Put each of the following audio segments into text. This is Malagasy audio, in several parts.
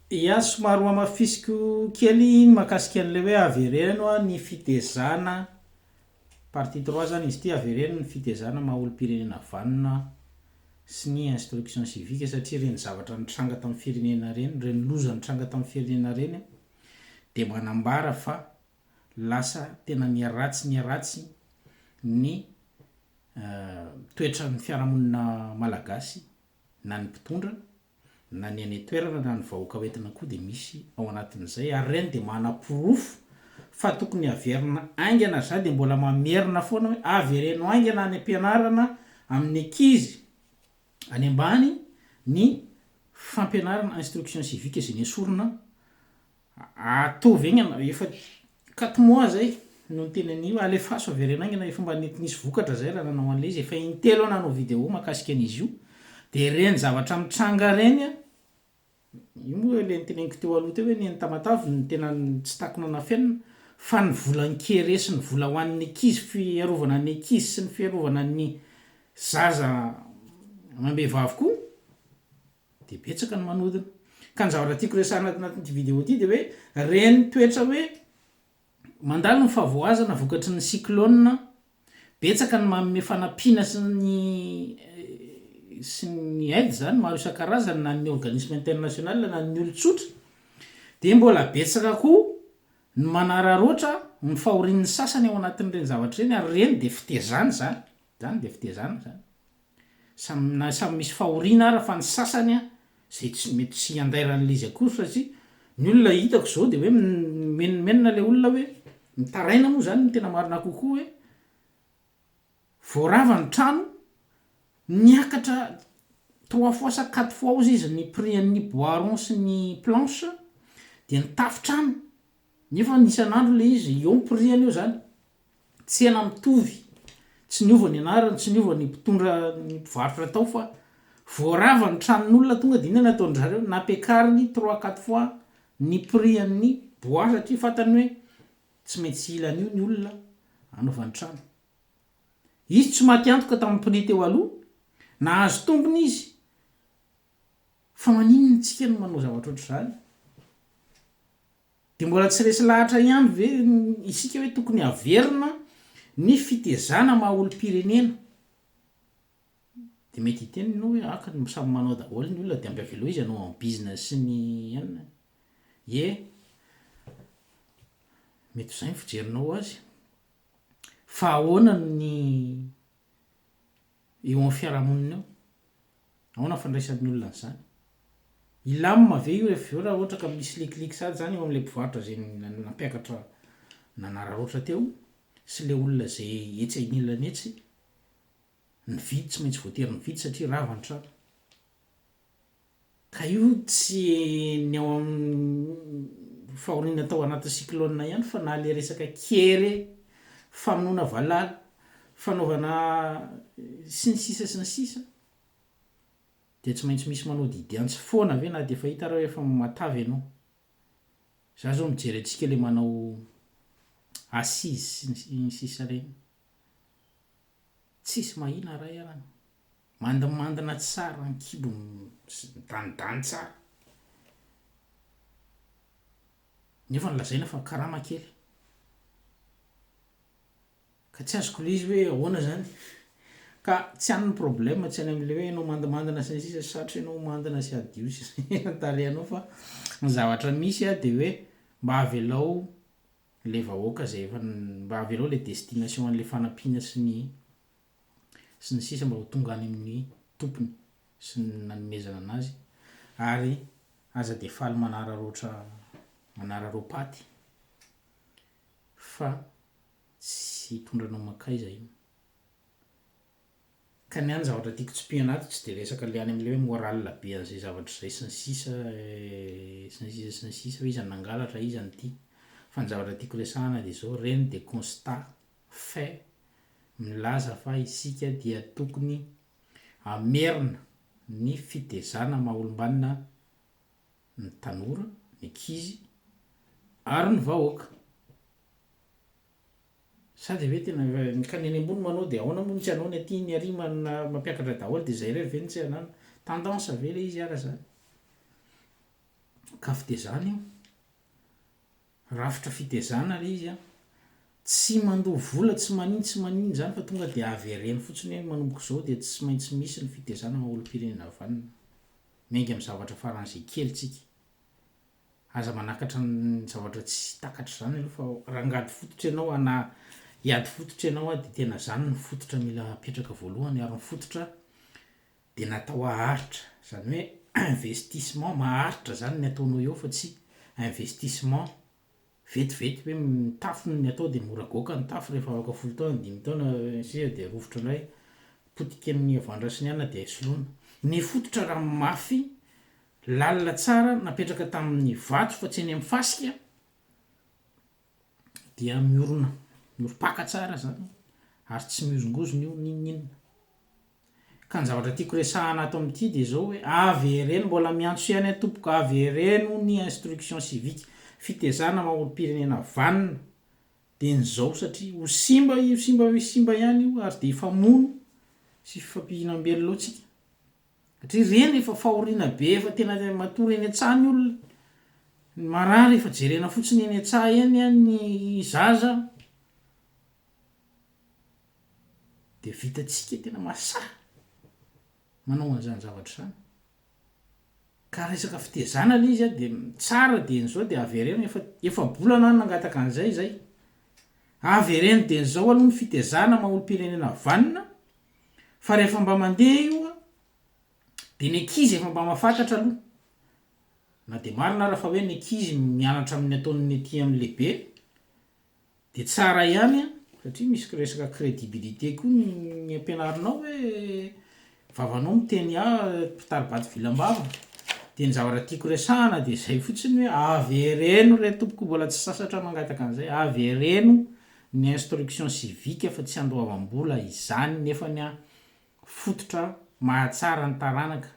Ia, somary ho amafisiko kely ny mahakasika an'ilay hoe avereno ny fitezana, partie trois zany izy ity, avereno ny fitezana maha olom-pirenena vanona sy ny instruction civique satria ireny zavatra nitranga tamin'ny firenena ireny, ireny loza nitranga tamin'ny firenena ireny dia manambara fa lasa tena miharatsy miharatsy ny toetran'ny fiarahamonina malagasy na ny mpitondra, na ny any an-toerana na ny vahoaka ho entina koa dia misy ao anatin'izay ary ireny dia manaporofo fa tokony haverina haingana, za dia mbola mamerina foana hoe avereno haingana any am-pianarana amin'ny ankizy any ambany ny fampianarana instruction civique izay nesorina Ataovy aingana rehefa quatre mois zay no niteny an'io, alefaso avereno aingana rehefa mba nety nisy vokatra zay raha nanao an'ilay izy, efa intelo aho nanao vidéo mahakasika an'izy io, de ireny zavatra mitranga ireny a, io moa ilay noteneniko teo aloha teo hoe ny an'i Tamatave no tena tsy takona nafenina, fa ny vola an-kere sy ny vola ho an'ny ankizy, fiarovana ny ankizy sy ny fiarovana ny zaza amam-behivavy koa, Dia betsaka ny manodina. Ka ny zavatra tiako resahina ato anatin'ity vidéo ity dia hoe ireny toetra hoe mandalo ny fahavoazana vokatry ny cyclone, betsaka ny manome fanampiana sy ny sy ny aide zany maro isan-karazany na ny organisme international na ny olon-tsotra dia mbola betsaka koa ny manararaotra ny fahorian'ny sasany ao anatin'ireny zavatra ireny ary ireny dia fitezana izany, izany dia fitezana izany. Samy samy misy fahoriana ara fa ny sasany a zay tsy mety tsy handairan'le izy akory satria ny olona hitako zao de hoe mimenomenona le olona hoe mitaraina moa zany no tena marina kokoa hoe vao rava ny trano niakatra trois fois sa quatre fois ozy izy ny prix an'ny bois rond sy ny planche de ny tafo trano. Nefany isan'andro ilay izy, eo ny prix-ny eo zany. Tsena mitovy, tsy niova ny anarany, tsy niova ny mpitondra ny mpivarotra tao fa voarava ny tranon'olona tonga dia inona no ataon-dry zareo, nampiakariny trois quatre fois ny prix-n'ny bois satria fantany hoe tsy maintsy hila an'io ny olona hanaovany trano. Izy tsy maty antoka tamin'ny prix teo aloha, nahazo tombony izy Fa maninona isika no manao zavatra ohatr'izany? Dia mbola tsy resy lahatra ihany ve isika hoe tokony haverina ny fitezana maha olom-pirenena? Dia mety hiteny ianao hoe aka no samy manao daholo ny olona dia amby avelao izy hanao an'i bizina sy ny inona. Ie, mety ho izay ny fijerinao azy. Fa ahoana ny Eo amin'ny fiarahamonina eo, ahoana ny fandraisan'ny olona an'izany? Hilamina ve io rehefa avy eo raha ohatra ka misy likiliky sahady izany eo amin'ilay mpivarotra izay nampiakatra nanararaotra teo sy ilay olona izay etsy anilany etsy? Nividy, tsy maintsy voatery nividy satria rava ny trano. Ka io tsy ny ao amin'ny fahoriana tao anatin'ny cyclone ihany fa na le resaka kere, famonoana valala, fanaovana sy ny sisa sy ny sisa dia tsy maintsy misy manao didy antsy foana ve na dia efa hita ary efa matavy ianao. Za zao mijery antsika le manao assise sy ny sisa reny, tsisy mahina ray arany. Mandimandina tsara ny kibony sy midanidany tsara. Nefa nolazaina fa karama kely. Ka tsy azoko le izy hoe ahoana zany? Ka tsy any ny problème tsy any amle hoe enao mandimandina sy ny sisa sarotra enao mandina sy hadio sy ny sisa ny tarehinao fa ny zavatra misy a de hoe mba avelao le vahoaka zay efa mba avelao le destination anle fanampiana sy ny. sy ny sisa mba ho tonga any amin'ny tompony sy ny nanomezana anazy ary aza dia faly manararaotra manararaopaty fa tsy hitondra anao mankaiza io ka ny any zavatra tiako tsipihana ato tsy dia resaka le any amle hoe morale be an'izay zavatra izay sy ny sisa sy ny sisa sy ny sisa hoe iza no nangalatra iza no tia fa ny zavatra tiako resahana dia zao reny dia constat fait, milaza fa isika dia tokony hamerina ny fitezana maha olombanona ny tanora, ny ankizy ary ny vahoaka. Sa dia ve tena ny ka ny any ambony manao dia ahoana moa ny tsy anao ny aty ny ary manana mampiakatra daholo dia izay irery ve no tsy anana? Tendance ve ilay izy ary izany? Ka fitezana io. Rafitra fitezana le izy an! Tsy mandoa vola tsy manin tsy manin izany fa tonga dia avereno fotsiny hoe manomboka izao dia tsy maintsy misy ny fitezana maha olompirenena vanona. Miainga amin'ny zavatra faran'izay kely tsika. Aza manakatra ny zavatra tsy takatra izany aloha fa rangady fototra ianao a na hiady fototra ianao a dia tena izany no fototra mila apetraka voalohany ary ny fototra dia natao haharitra, izany hoe investissement maharitra zany ny ataonao eo fa tsy investissement vetivety hoe ny tafo no atao dia mora goaka ny tafo rehefa afaka folo taona, dimy taona sy ny sisa dia rovitra indray, potika ny havandra sy ny anona dia soloina. Ny fototra raha mafy, lalina tsara, napetraka tamin'ny vato fa tsy eny amin'ny fasika, dia miorina mioripaka tsara zany ary tsy mihozongozona io n'inon'inona. Ka ny zavatra tiako resahana ato amin'ity dia zao hoe avy ery ny mbola miantso ihany a tompoko a, avy ery hono ny instruction civique, fitezana maha olom-pirenena vanona dia ny zao satria ho simba io simba hoe simba ihany io ary dia hifamono sy hifampihinam-belona ao tsika. Satria ireny efa fahoriana be efa tena matory eny an-tsaha ny olona. Ny marary efa jerena fotsiny eny an-tsaha eny an, ny zaza dia vitantsika tena mahasahy manao an'izany zavatra izany. Ka resaka fitezana ilay izy an dia tsara dia ny zao dia avereno efa efa-bolana aho nangataka an'izay izay. Avereno dia ny zao aloha ny fitezana maha olom-pirenena vanona. fa rehefa mba mandeha io a de ny ankizy efa mba mafatatra aloha na de marina ara fa hoe ny ankizy mianatra amin'ny ataon'ny aty amin'ny lehibe de tsara ihany a satria misy ko resaka credibilité koa ny ampianarinao hoe vavanao miteny a mpitari-bato vilam-bava de ny zavatra tiako resahana de zay fotsiny hoe avereno re tompoko mbola tsy sasatra mangataka an'izay avereno ny instruction civique fa tsy andoavam-bola izany nefany an fototra mahatsara ny taranaka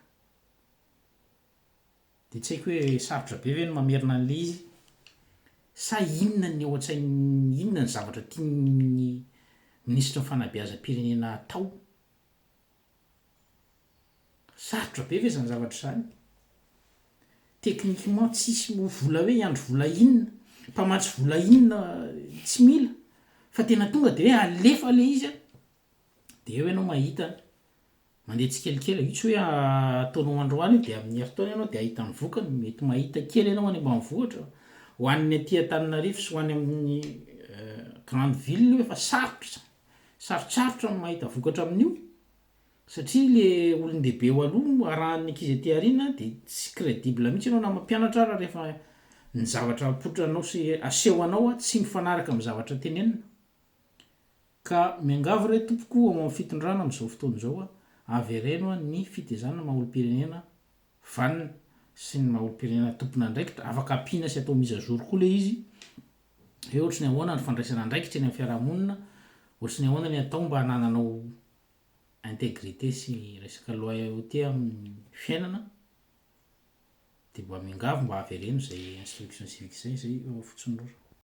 dia tsy haiko hoe sarotra be ve ny mamerina an'ilay izy sa inona ny ao an-tsain'ny inona ny zavatra tian'ny minisitry ny fanabeazam-pirenena atao? Sarotra be ve izany zavatra izany? Techniquement tsisy ho vola hoe hiandry vola inona, mpamatsy vola inona tsy mila fa tena tonga de hoe alefa le izy a, de eo ianao mahita mandeha tsikelikely io tsy hoe ataonao androany de amin'ny herintaona ianao de ahita ny vokany, mety mahita kely ianao any ambanivohitra, ho an'ny aty Antananarivo sy ho any amin'ny grande ville io efa sarotra izany. Sarotsarotra ny mahita vokatra amin'io satria le olon-dehibe eo aloha no arahan'ny ankizy aty aoriana de tsy credible mihitsy ianao na mampianatra ara rehefa ny zavatra apotranao sy aseho anao tsy mifanaraka amin'ny zavatra tenenina. Ka miangavy re tompoko ao amin'ny fitondrana amin'izao fotoana izao avereno ny fitezan'ny maha olom-pirenena vanona sy ny maha olom-pirenena tompon'andraikitra, afaka ampiana sy atao mise à jour koa le izy hoe ohatry ny ahoana ny fandraisana andraikitra eny amin'ny fiarahamonina, ohatry ny ahoana ny atao mba hanananao integrité sy resaka loyauté amin'ny fiainana, dia mba miangavy mba avereno izay instruction civique izay, izay Fotsindrora.